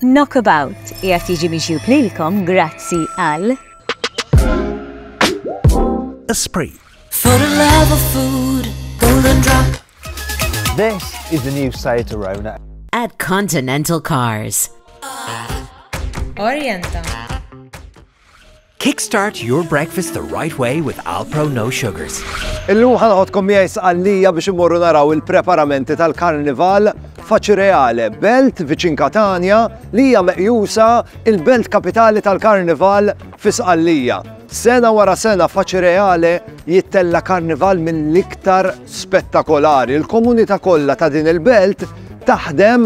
Knockabout qiegħed jiġi miġjub lilkom grazzi għal Esprit. For the love of food, golden drop. This is the new Seat Arona. At Continental Cars. Orienta. Kickstart your breakfast the right way with Alpro No Sugars. Illum ħanħodkom miegħi sqallija biex imorru naraw il-preparamenti tal-Karnival Faċireale, belt viċin Katania li hija meqjusa il-belt kapitali tal-Karnival fi Sqallija. Sena wara sena Faċireale jittella Karnival mill-iktar spettakolari. Il-komunità kollha ta' din il-belt taħdem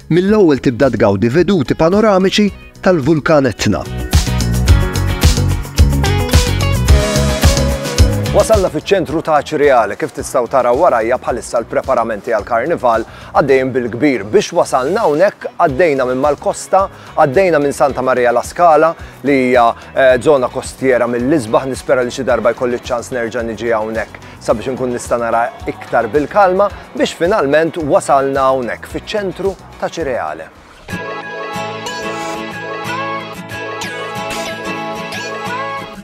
Mill-ewwel tibda tgawdi veduti panoramiċi tal-Vulkan Etna. Wasalna fiċ-ċentru ta' Aċriale kif tistgħu taraw warajja bħalissa l-preparamenti għal karnival għaddejn bil-kbir. Biex wasalna hawnhekk għaddejna minn mal-kosta, għaddejna minn Santa Maria la Scala li hija żona eh, kostiera mill-isbaħ nispera li xi darba jkolli ċans nerġa' niġi hawnhekk. sabiex inkun nista' nara iktar bil-kalma biex finalment wasalna hawnhekk fiċ-ċentru ta' Cireale.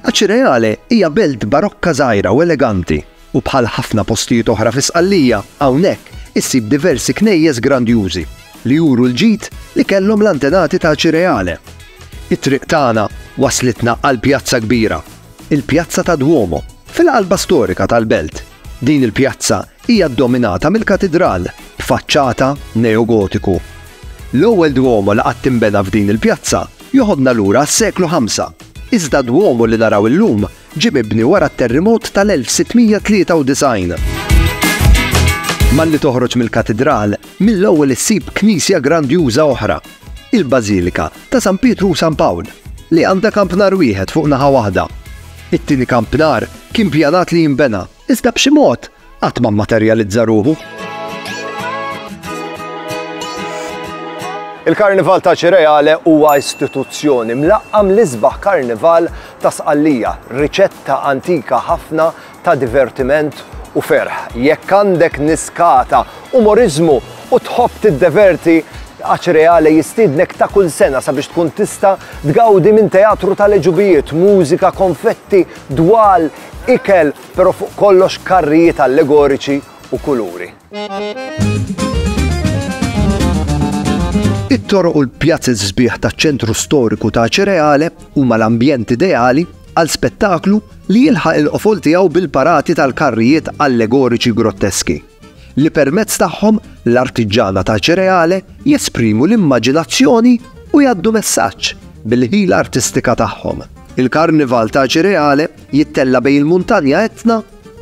Aċireale hija belt barokka żgħira u eleganti u bħal ħafna postijiet oħra fi Sqallija hawnhekk issib diversi knejjes grandjużi li juru l-ġid li kellhom l-antenati ta' Aċireale. It-triq tagħna waslitna għal pjazza kbira il-Pjazza tad-Duomo, fil-qalba storika tal-belt. Din il-pjazza hija ddominata mill-katidral, b'faċċata neogotiku. L-ewwel Duomo li qatt inbena f'din il-pjazza joħodna lura għas-seklu ħamsa, iżda d-Duomo li naraw illum ġie mibni wara t-terrimot tal-1693. Malli toħroġ mill-katidral, mill-ewwel issib knisja grandjuża oħra, Il-Bażilika ta' San Pietru u San Pawl, li għandha kampnar wieħed fuq naħa waħda. It-tieni kampnar kien pjanat li jinbena, iżda b'xi mod qatt ma mmaterjalizza ruħu. Il-Karnival ta' Ċireale huwa istituzzjoni mlaqqam l-isbaħ karnival ta' Sqallija, riċetta antika ħafna ta' divertiment u ferħ. Jekk għandek niskata, umoriżmu u tħobb tiddeverti, Aċ Reale jistiednek ta' kull sena sabiex tkun tista' tgawdi minn teatru tal-għeġubijiet, mużika, konfetti, dwal, ikel, però fuq kollox karrijiet allegoriċi u kuluri. It-toroq u l-pjazez sbieħ taċ-ċentru storiku ta' Aċ Reale huma l-ambjent ideali għal spettaklu li jilħaq il-qofol tiegħu bil-parati tal-karrijiet allegoriċi grotteski, li permezz tagħhom l-artiġġana ta' Cireale jesprimu l-immaġinazzjoni u jgħaddu messaġġ bil-ħila artistika tagħhom. Il-Karnival ta' Cireale jittella' bejn il-Muntanja Etna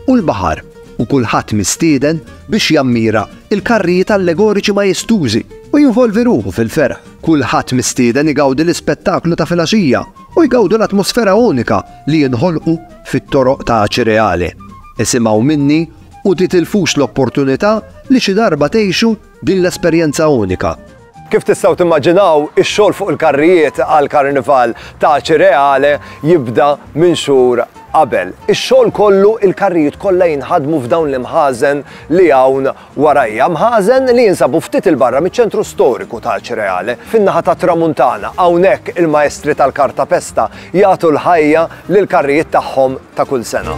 u l-baħar, u kulħadd mistieden biex jammira l-karrijiet allegoriċi majestużi u jinvolvi ruħu fil-ferħ. Kulħadd mistieden igawdi l-ispettaklu ta' filgħaxija u jgawdu l-atmosfera unika li jinħolqu fit-toroq ta' Acireale. Isimgħu minni u titilfux l-opportunità li xi darba tgħixu din l-esperjenza unika. Kif tistgħu timmaġinaw, ix-xogħol fuq il-karrijiet għall-Karnival ta' Acireale jibda minn xhur qabel. Ix-xogħol kollu, il-karrijiet kollha jinħadmu f'dawn l-imħażen li hawn Wara hija mħażen li jinsabu ftit 'il barra miċ-ċentru storiku ta' Acireale, fin-naħa tat-Tramuntana, hawnhekk il-Maestri tal-Cartapesta jagħtu l-ħajja lill-karrijiet tagħhom ta' kull sena.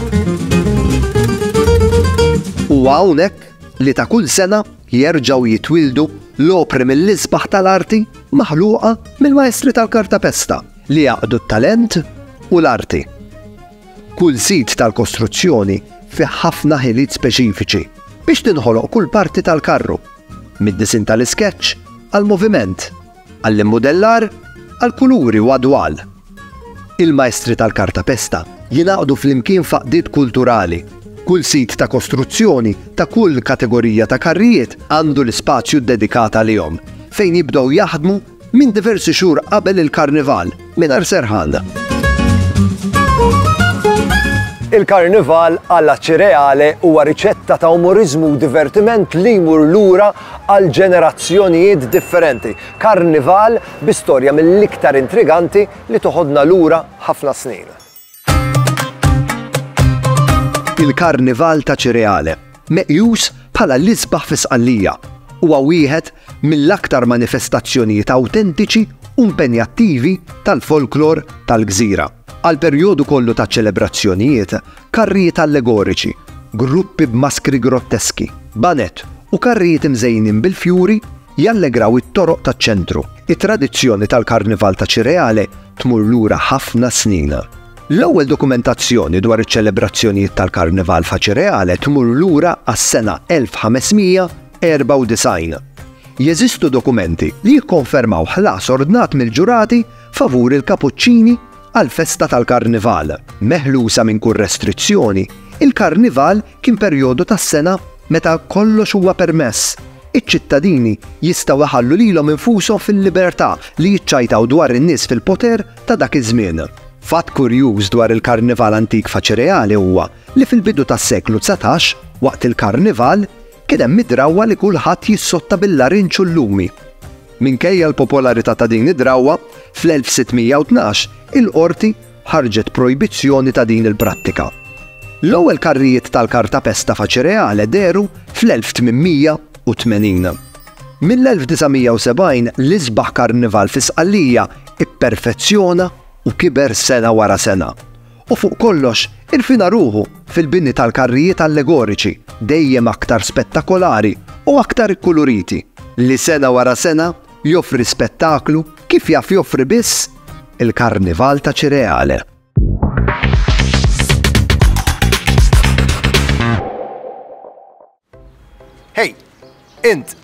Huwa hawnhekk li ta' kull sena jerġgħu jitwieldu l-opri mill-isbaħ tal-arti maħluqa mill-Maestri tal-Cartapesta li jgħaqqdu t-talent u l-arti. Kull sit tal-kostruzzjoni fih ħafna ħiliet speċifiċi biex tinħoloq kull parti tal-karru, mid-disinn tal-iskeċċ għall-moviment, għall-immudellar, għall-kuluri u għad-dwal. Il-majstri tal-kartapesta jingħaqdu flimkien f'għaqdiet kulturali. Kull sit ta' kostruzzjoni ta' kull kategorija ta' karrijiet għandu l-ispazju ddedikat għalihom fejn jibdew jaħdmu Minn diversi xhur qabel il-Karnival, mingħajr serħan. Il-Karnival alla Cireale huwa riċetta ta' umoriżmu u divertiment li jmur lura għal ġenerazzjonijiet differenti. Karnival bi storja mill-iktar intriganti li toħodna lura ħafna snin. Il-Karnival ta' Ċireale, meqjus bħala l-isbaħ fi Sqallija, huwa wieħed mill-aktar manifestazzjonijiet awtentiċi u impenjattivi tal-folklor tal-gżira. Għall-perjodu kollu taċ-ċelebrazzjonijiet, karrijiet allegoriċi, gruppi b'maskri grotteski, baned u karrijiet imżejnin bil-fjuri jallegraw it-toroq taċ-ċentru. It-tradizzjoni tal-Karnival ta' Ċireale tmur lura ħafna snin. L-ewwel dokumentazzjoni dwar iċ-ċelebrazzjonijiet tal-Karnival f'Acireale tmur lura għas-sena 1594. Jeżistu dokumenti li jikkonfermaw ħlas ordnat mill-ġurati favur il-Kapuċċini għall-festa tal-Karnival. Meħlusa minn kull restrizzjoni, il-Karnival kien perjodu tas-sena meta kollox huwa permess. Iċ-ċittadini jistgħu jħallu lilhom infushom fil-libertà li jiċċajtaw dwar in-nies fil-poter ta' dak iż-żmien. Fatt kurjuż dwar il-Karnival antik f'Aċireale huwa li fil-bidu tas-seklu dsatax, waqt il-Karnival, kien hemm id-drawwa li kulħadd jissotta bil-larinġ u l-lumi. Minkejja l-popolarità ta' din id-drawwa, fl-1612 il-qorti ħarġet projbizzjoni ta' din il-prattika. L-ewwel karrijiet tal-kartapesta faċireale dehru fl-1880. Mill-1970 l-isbaħ karnival fi Sqallija pperfezzjona u kiber sena wara sena. U fuq kollox, irfina ruħu fil-bini tal-karrijiet allegoriċi, dejjem aktar spettakolari u aktar ikkuluriti, li sena wara sena joffri spettaklu Kif jaf joffri biss il-Karnival ta' Cireale. Hey, int,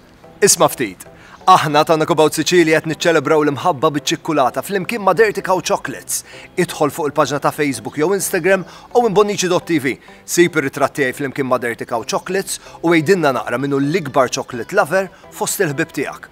isma' ftit. Aħna ta' Nakubaw Siċili qed niċċelebraw l-imħabba biċ-ċikkulata flimkien ma' Dirty Cow Chocolates. Idħol fuq il-paġna ta' Facebook jew Instagram u imbonnici.tv. Sib ir-ritratt tiegħi flimkien ma' Dirty Cow Chocolates u għidilna naqra minnu l-ikbar chocolate lover fost il-ħbib tiegħek.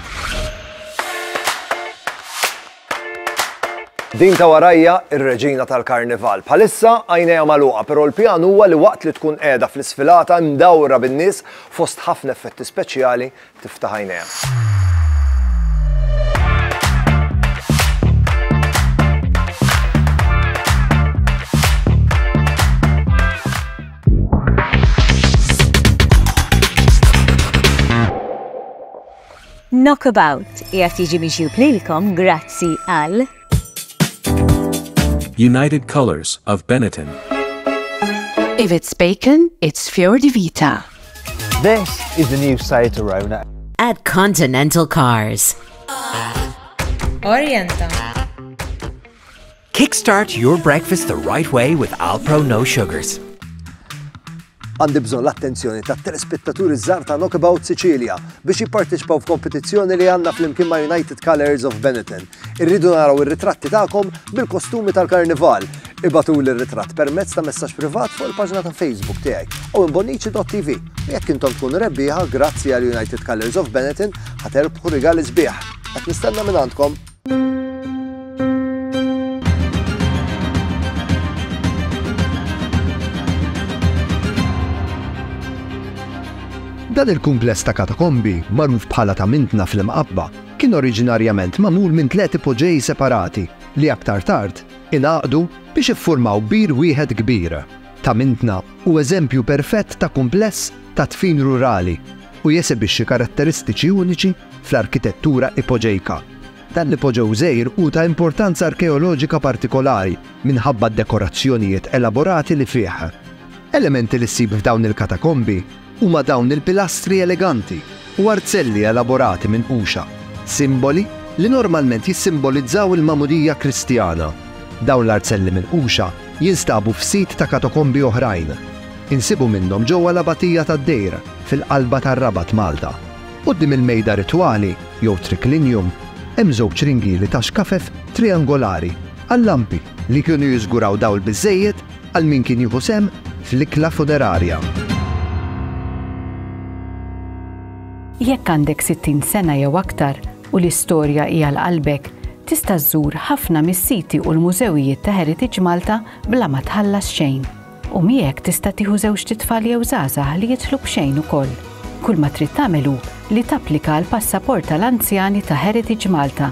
Din ta' warajja r-reġina tal-karnival. Bħalissa għajnejha magħluqa, però l-pjan huwa li waqt li tkun qiegħda fl-isfilata mdawra bin-nies fost ħafna effetti speċjali tiftaħ għajnejha. Knockabout qiegħed jiġi miġjub lilkom grazzi għal. United Colours of Benetton. If it's bacon, it's Fior di Vita. This is the new Seat Arona. At Continental Cars. Orienta. Kickstart your breakfast the right way with Alpro No Sugars. Għandi bżonn l-attenzjoni ta' telespettaturi żgħar ta' Knockabout Sicilia biex jipparteċipaw f'kompetizzjoni li għandna flimkien ma' United Colors of Benetton. Irridu naraw ir-ritratti tagħkom bil-kostumi tal-karnival. Ibatu l-ritratt permezz ta' messaġġ privat fuq il-paġna ta' Facebook tiegħek u imbonnici.tv. Jekk intom tkun rebbieħa grazzi għal United Colors of Benetton ħaterbħu rigali sbieħ. Qed nistenna minn għandkom. Dan il-kumpless ta' katakombi, magħruf bħala ta' Mintna fl-Imqabba, kien oriġinarjament magħmul minn tliet ipoġeji separati li aktar tard ingħaqdu biex iffurmaw bir wieħed kbir. ta' Mintna hu eżempju perfett ta' kumpless ta' dfin rurali u jesebixxi karatteristiċi uniċi fl-arkitettura ipoġejka. Dan l-ipoġew żgħir hu ta' importanza arkeoloġika partikolari minħabba d-dekorazzjonijiet elaborati li fih. Elementi li ssib f'dawn il-katakombi Huma dawn il-pilastri eleganti u arzelli elaborati minn quxa, simboli li normalment jissimbolizzaw il-magħmudija Kristjana. Dawn l-arzelli minn quxa jinstabu f'sit ta' katakombi oħrajn. Insibu minnhom ġewwa l-Abatija tad-Dejr, fil-qalba tar-Rabat, Malta. Quddiem il-mejda ritwali, jew triclinium, hemm żewġ ringieli ta' xkafef triangolari għal-lampi li kienu jiżguraw dawl biżżejjed Għal min kien jieħu sehem fl-ikla funerarja. Jekk għandek 60 sena jew aktar u l-istorja hija l qalbek, tista' żżur ħafna mis-siti u l-mużewijiet ta' Heritage Malta bla ma tħallas xejn. U miegħek tista' tieħu żewġ titfal jew żgħażagħ li jidħlu b'xejn ukoll. Kull ma trid tagħmel hu li tapplika għal passaport tal-anzjani ta' Heritage Malta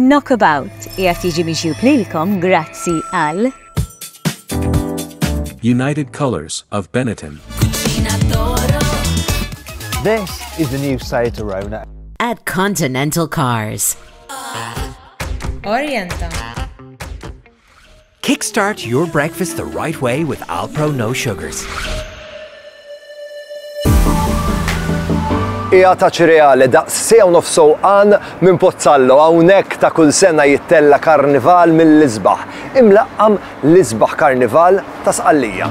Knockabout jgħat jiġi miġjub lilkom grazzi għal United Colors of Benetton. This is the new Seat Arona. At Continental Cars, Orienta. Kickstart your breakfast the right way with Alpro No Sugars. Ija ta' ċreale da' sew nofso għan minn Pozzallo hawnhekk ta' kull sena jittella karnival mill-isbaħ. Imlaqqam l-isbaħ karnival ta' sqallija.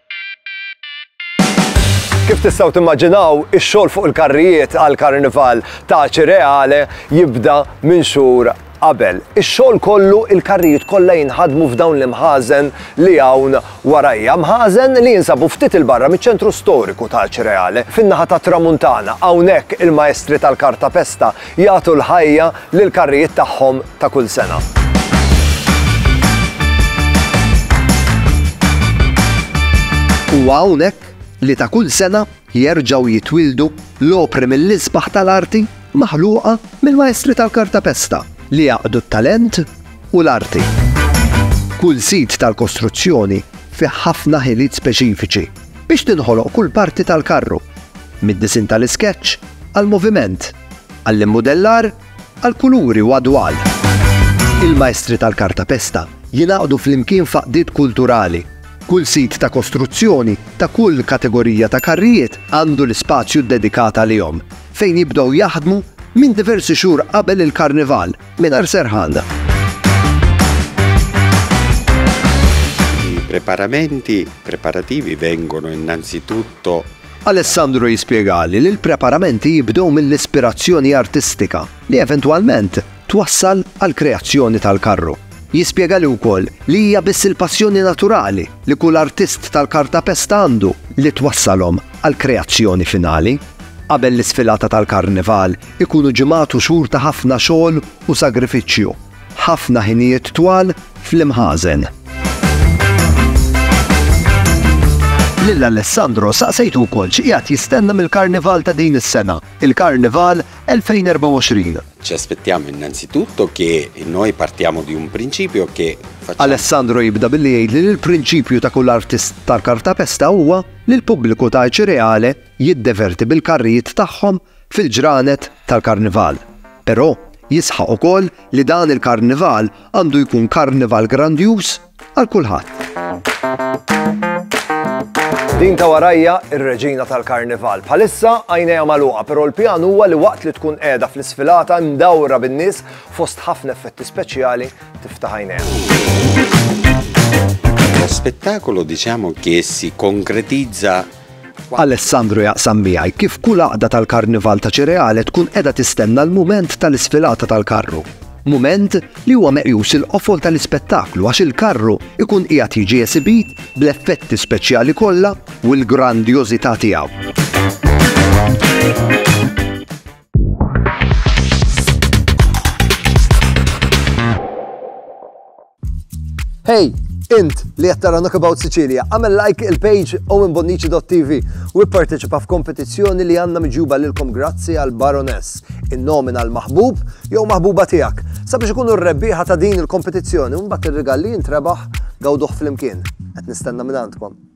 Kif tistgħu timmaġinaw, ix-xogħol fuq il-karrijiet għal karnival ta' Ċireale jibda minn xhur qabel. Ix-xogħol kollu il-karrijiet kollha jinħadmu f'dawn l-imħażen li hawn warajja. Mħażen li jinsabu ftit il-barra miċ-ċentru storiku ta' Ċireale, fin-naħa tat-Tramuntana. Hawnhekk il-maestri tal-kartapesta jagħtu l-ħajja lill-karrijiet tagħhom ta' kull sena. Huwa hawnhekk li ta' kull sena jerġgħu jitwieldu l-opri mill-isbaħ tal-arti maħluqa mill-maestri tal-kartapesta li jgħaqqdu t-talent u l-arti. Kull sit tal-kostruzzjoni fih ħafna ħiliet speċifiċi biex tinħoloq kull parti tal-karru, mid-disinn tal-iskeċċ għall-moviment. Għall-immudellar, għall-kuluri u għad-dwal. Il-maestri tal-kartapesta jingħaqdu flimkien f'għaqdiet kulturali. Kull sit ta' kostruzzjoni ta' kull kategorija ta' karrijiet għandu l-ispazju ddedikat għalihom, fejn jibdew jaħdmu minn diversi xhur qabel il-Karnival mingħajr serħan. I preparamenti preparativi vengono innanzitutto Alessandro jispjegali li l-preparamenti jibdew mill-ispirazzjoni artistika li eventwalment twassal għall-kreazzjoni tal-karru. Jispjegali wkoll li hija biss il-passjoni naturali li kull artist tal-kartapesta għandu li twassalhom għall-kreazzjoni finali. Qabel l-isfilata tal-Karnival ikunu ġimgħat u xhur ta' ħafna xogħol u sagrifiċċju. Ħafna ħinijiet twal fl-imħażen. Lil Alessandro saqsejtu wkoll x'qiegħed jistenna mill-Karnival ta' din is-sena, il-Karnival 2024. Ci aspettiamo innanzitutto che noi partiamo di un principio che Alessandro jibda billi jgħid li l-prinċipju ta' kull artist tal-kartapesta huwa li l-pubbliku ta' Ċireale jiddeverti bil-karrijiet tagħhom fil-ġranet tal-Karnival, però jisħaq ukoll li dan il-Karnival għandu jkun Karnival grandjuż għal kulħadd. Din ta' warajja ir-reġina tal-karnival. Bħalissa għajnejha magħluqa, però l-pjan huwa li waqt li tkun qiegħda fl-isfilata mdawra bin-nies fost ħafna effetti speċjali tiftaħ għajnejha. Lo spettacolo diciamo che si concretizza Alessandro jaqsam miegħi kif kull għaqda tal-Karnival ta' Cireale tkun qiegħda tistenna l-mument tal-isfilata tal-karru. Mument li huwa meqjus il-qofol tal-ispettaklu għax il-karru jkun qiegħed jiġi esibit bl-effetti speċjali kollha u l-grandjożità tiegħu. Hey, int li qed tara Knockabout Sicilia, għamel like il-page owenbonnici.tv u ipparteċipa f'kompetizzjoni li għandna miġjuba lilkom grazzi għal Baroness, in-nomina l-maħbub jew maħbuba tiegħek. Sabiex ikunu r-rebbieħa ta' din il-kompetizzjoni u mbagħad ir-rigal li jintrebaħ gawduh flimkien. Qed nistenna minn għandkom.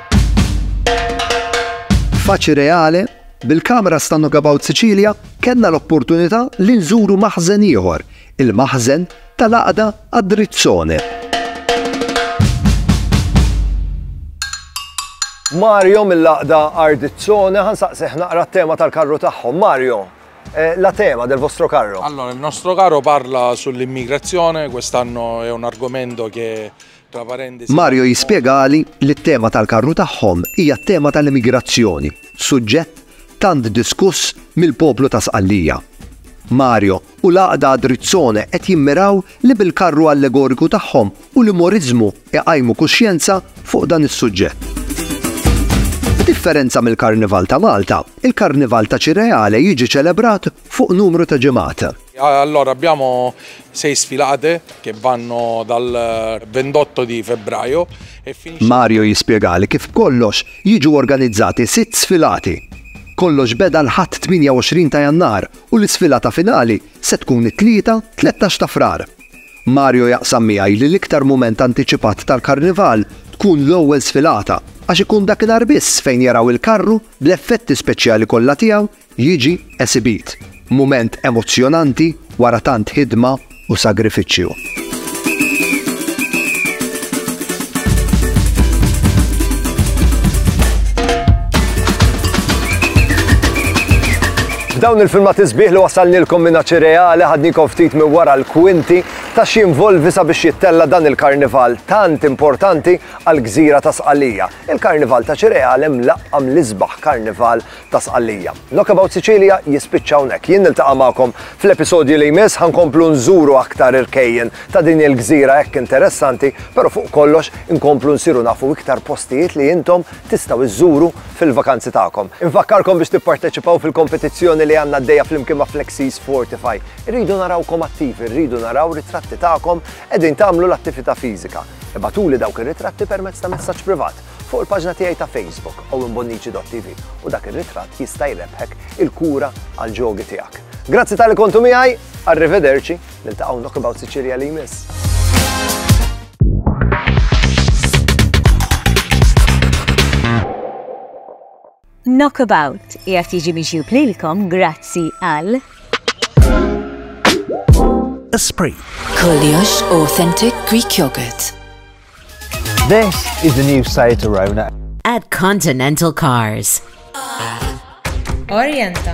Faċi Reale, bil-Cameras ta' Knockabout Sicilia kellna l-opportunità li nżuru maħżen ieħor, il-maħżen tal-għaqda Adrizzone. Mario mill-laqda Ardizzone ħansaqseħ naqra t-tema tal-karru tagħhom. Mario, eh, la tema del vostro carro? Allora, il nostro carro parla sull'immigrazione, quest'anno è un argomento che Mario jispjegali li t-tema tal-karru tagħhom hija t-tema tal-emigrazzjoni, suġġett tant diskuss mill-poplu ta' Sqallija. Mario u l-Għaqda Adrizzone qed jimmiraw li bil-karru allegoriku tagħhom u l-umoriżmu iqajmu kuxjenza fuq dan is-suġġett. B'differenza mill-Karnival ta' Malta, il-Karnival ta' Cireale jiġi ċelebrat fuq numru ta' ġimgħat. Allora abbiamo sei sfilate che vanno dal 28 di febbraio e finisce. Mario jispjegali kif b'kollox jiġu organizzati sitt sfilati. Kollox beda l-Ħadd 28 ta' Jannar u l-isfilata finali se tkun it-Tlieta 13 ta' Frar. Mario jaqsam miegħi li l-iktar mument antiċipat tal-Karnival tkun l-ewwel sfilata għax ikun dakinhar biss fejn jaraw il-karru bl-effetti speċjali kollha tiegħu jiġi esibit, mument emozzjonanti wara tant ħidma u sagrifiċċju. F'dawn il-filmat isbieħ li wasalnilkom minn ċireali ħadnikom ftit minn wara l-kwinti ta' xi involvi sabiex jittella dan il-karnival tant importanti għal gżira ta' Sqalija. Il-karnival ta' ċireali mlaqqam l-isbaħ karnival ta' Sqallija. Knock About Sicilia jispiċċa hawnhekk. Jien niltaqa' magħkom fl-episodju li jmiss ħa nkomplu nżuru aktar irkejjen ta' din il-gżira hekk interessanti, però fuq kollox inkomplu nsiru nafu iktar postijiet li intom tistgħu żżuru fil-vakanzi tagħkom. Infakkarkom biex tipparteċipaw fil-kompetizzjoni li għandna għaddejja flimkien ma' Flexis Fortify. Irridu narawkom attivi, rridu naraw ritratti tagħkom qegħdin tagħmlu l-attività fiżika. Ibagħtuli dawk ir-ritratti permezz ta' messaġġ privat. Fuq il-paġna tiegħi ta' Facebook, owenbonnici.tv, u dak ir-ritratt jista' jrebbħek il-kura għall-ġogi tiegħek. Grazzi tal-li kontu miegħi, arrivederci, niltaqgħu Knockabout Sicilia li jmiss. Knockabout qiegħed jiġi miġjub lilkom grazzi għal. Esprit. Kollox authentic Greek yogurt. This is the new Seat Arona. At Continental Cars. Orienta.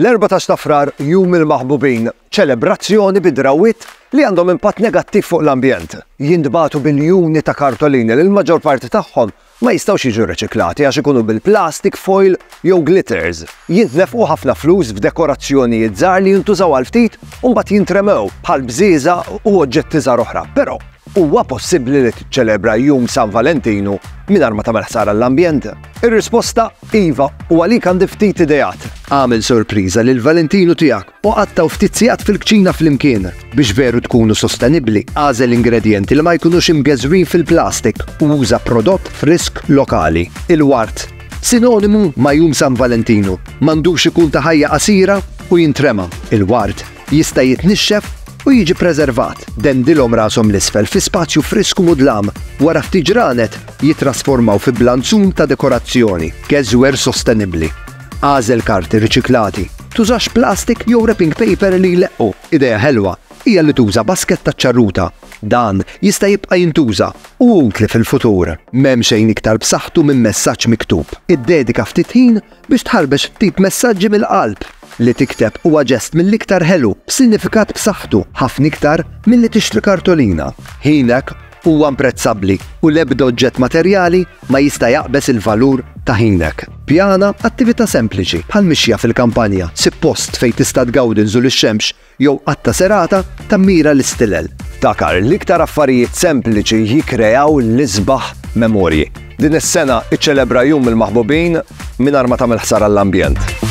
L-Erbatax ta' Frar, Jum il-Maħbubin, ċelebrazzjoni bi drawwiet li għandhom impatt negattiv fuq l-ambjent. Jintbagħtu biljuni ta' kartolini li l-maġġor parti tagħhom ma jistgħux jiġu riċiklati għax ikunu bil-plastik, foil jew glitters. Jintnefqu ħafna flus f'dekorazzjonijiet żgħar li jintużaw għal ftit u mbagħad jintremew, bħal bżieżaq u oġġetti żgħar oħra. Però. Huwa possibbli li tiċċelebra Jum San Valentinu mingħajr ma tagħmel ħsara l-ambjent? Ir-risposta iva u għalik għandi ftit ideat. Agħmel sorpriża lil Valentinu tiegħek u qattgħu ftit sigħat fil-kċina flimkien. Biex veru tkunu sostenibbli, agħżel ingredjenti li ma jkunux imgeżwrin fil-plastik u uża prodott frisk lokali. Il-ward, sinonimu ma' Jum San Valentinu, m'għandux ikun ta' ħajja qasira u jintrema. Il-ward Jista' jitnixxef u jiġi ppreservat. Dendilhom rashom 'l isfel fi spazju frisk u mudlam, wara ftit ġranet jittrasformaw fi blanzun ta' dekorazzjoni. Gezwer sostenibbli. Agħżel karti riċiklati. Tużax plastik jew wrapping paper li jleqqu. Idea ħelwa hija li tuża basket taċ-ċarruta. Dan jista' jibqa' jintuża u hu utli fil-futur. M'hemm xejn iktar b'saħħtu minn messaġġ miktub. Iddedika ftit ħin Biex tħarbex ftit messaġġi mill-qalb, li tikteb huwa ġest mill-iktar ħelu, b'sinifikat b'saħħtu, ħafna iktar milli tixtri kartolina. Ħinek huwa mprezzabbli u l-ebda oġġett materjali ma jista' jaqbeż il-valur ta' ħinek. Pjana attività sempliċi, bħal mixja fil-kampanja, sib post fejn tista' tgawdi nżul ix-xemx jew qatta' serata ta' mira l-istilel. Ftakar, l-iktar affarijiet sempliċi jikkreaw l-isbaħ memorji. Din is-sena iċċelebra Jum il-Maħbubin mingħajr ma tagħmel ħsara l-ambjent.